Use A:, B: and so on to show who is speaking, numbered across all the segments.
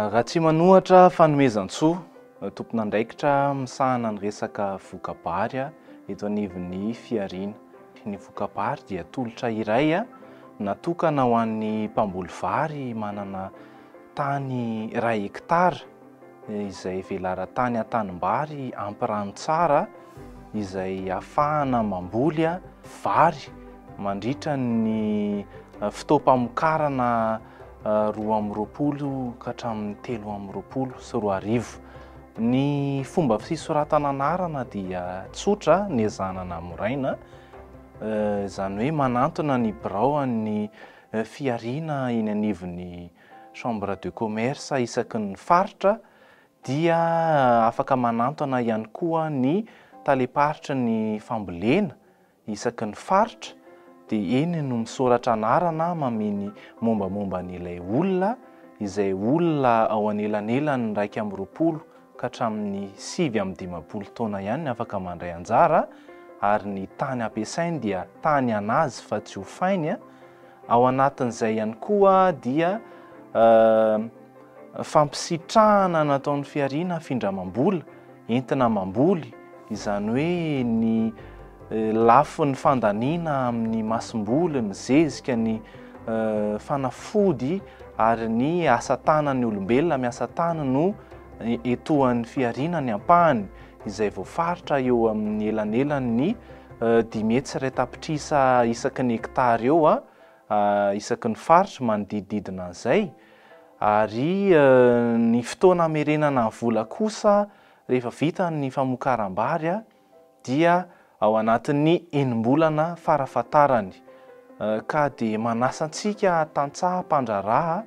A: Ratsimanohatra Fanomezantsoa, tompon'andraikitra misahana ny resaka voka-bary eto anivon'ny fihariana. Ny voka-bary dia tolotra iray natokana ho an'ny mpamboly vary manana tany iray hekitara. izay velaran-tany an-tanimbary ampy rano tsara izay ahafahana mamboly vary mandritra ny fotoam-pamokarana roa amby roapolo ka hatramin'ny telo amby roapolo sy roa arivo. Ny fomba fisoratana anarana dia tsotra niezahana namoraina, izany hoe manantona ny biraon'ny fihariana eny anivon'ny Chambre de commerce isaky ny faritra dia afaka manantona ihany koa ny talem-paritry ny fambolena isaky ny faritra dia eny no misoratra anarana mamehy ny mombamomba an'ilay olona izay olona ao anelanelan'ny iraika amby roapolo ka hatramin'ny sivy amby dimampolo taona ihany ny afaka mandray anjara ary ny tany hampiasainy dia tany an'azy fa tsy hofainy, ao anatin'izay ihany koa dia fampisitrahana nataon'ny fihariana findramam-bola entina mamboly izany hoe ny lafiny fandaniana amin'ny masomboly, ny zezika, ny fanafody ary ny asa tanan'ny olombelona miasa tany no etoan'ny fihariana ny ampahany izay voafaritra eo amin'ny elanelan'ny dimy hetsy iray tapitrisa isaky ny hekitara eo isaky ny faritra manodidididina an'izay ary ny fotoana hamerenana ny vola kosa Rehefa vita ny famokaram-bary dia ao anatin'ny enim-bolana farafahatarany ka dia manasa antsika tantsaha mpandraharaha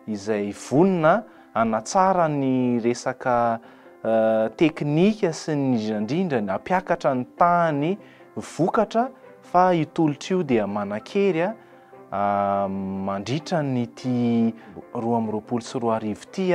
A: izay vonona hanatsara ny resaka teknika sy indrindra indrindra ny hampiakatra ny tahan'ny vokatra fa io tolotra io dia manan-kery mandritra an'ity roa amby roapolo sy roa arivo ity.